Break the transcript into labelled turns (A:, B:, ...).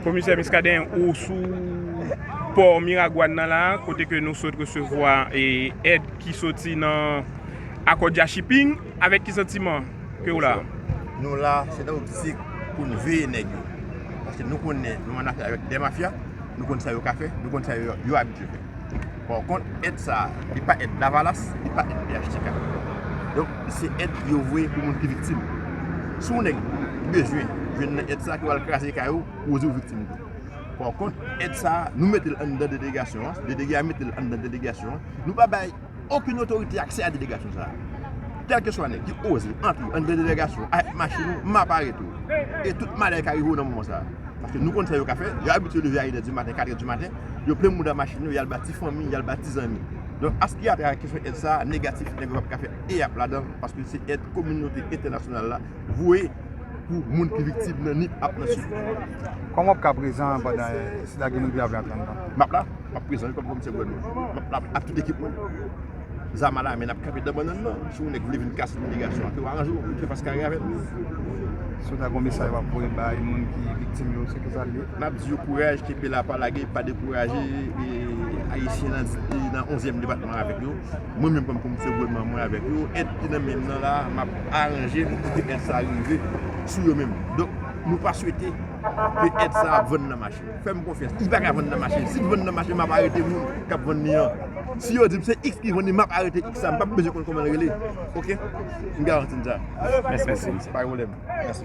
A: Komisè Miskaden
B: ou sou pò Miragwàn nan la kote ke nou sot resevwa èd ki soti nan Akòdya Shipping avèk ki santiman ke ou la? Nou la
A: se nan optik pou nou veye nèg yo paske nou konnen nou annafè avèk 2 mafya nou konn sa yo ka fè nou konn sa yo abitye fè. Pò kont èd sa a, li pa èd Lavalas, li pa èd phtk. Donk, se èd yo voye pou moun ki viktim. Si yon nèg bezwen jwenn nan èd sa a ki pral kraze kay ou, ou di ou viktim tou. Pò kont, èd sa a, nou mete l anndan delegasyon an, delege a mete l anndan delegasyon an, nou pa bay okenn otorite aksè a delegasyon sa a. Kèlkeswa nèg ki oze antre anndan delegasyon an avèk machin ou, m ap arete w. E tout malè ka rive w nan moman sa a. Paske nou konn sa yo ka fè, yo abitye leve a inèdimaten, katrèdimaten. yo plen mouda machin yo, y al ba ti fanmi, y al ba ti zanmi. Donk aske y ap travay kesyon èd sa a, negatif nèg yo pa p ka fè eyap ladan l paske se èd kominote entènasyonal la voye pou moun ki viktim nan Nip ak nan Sid. Kòman w ap ka
C: prezan pandan sila ki moun ki ap viv antre anndan? M ap la, m ap prezan
A: wi kòm komisè gouvènman. M ap la ak tout ekip mwen. Zama la men nap kanpe dan bannann nan si yon nèg vle vin kase imigrasyon an ke yo aranje yo ke yo fas kare avèl. Si w ta
C: gon mesaj wap voye bay moun ki viktim yo se kisa l ye? Map di yo kouraj kenpe
A: la pa lage pa dekouraje ayisyen nan di nan onzyèm depatman avèk yo mwen menm kòm komisè gouvènman mwen avèk yo èd ki nan menm nan la map aranje pou kite èd sa rive sou yo menm donk nou pa swete ke èd sa ap vann nan mache. Fèm konfyans li paka vann nan mache sil vann nan mache map arete moun kap vann li an si yo dim se x ki vann li map arete x la m pap bezwen konn kòman l rele ok m garanti n sa. Mèsi anpil. Pa gen pwoblèm. Mèsi.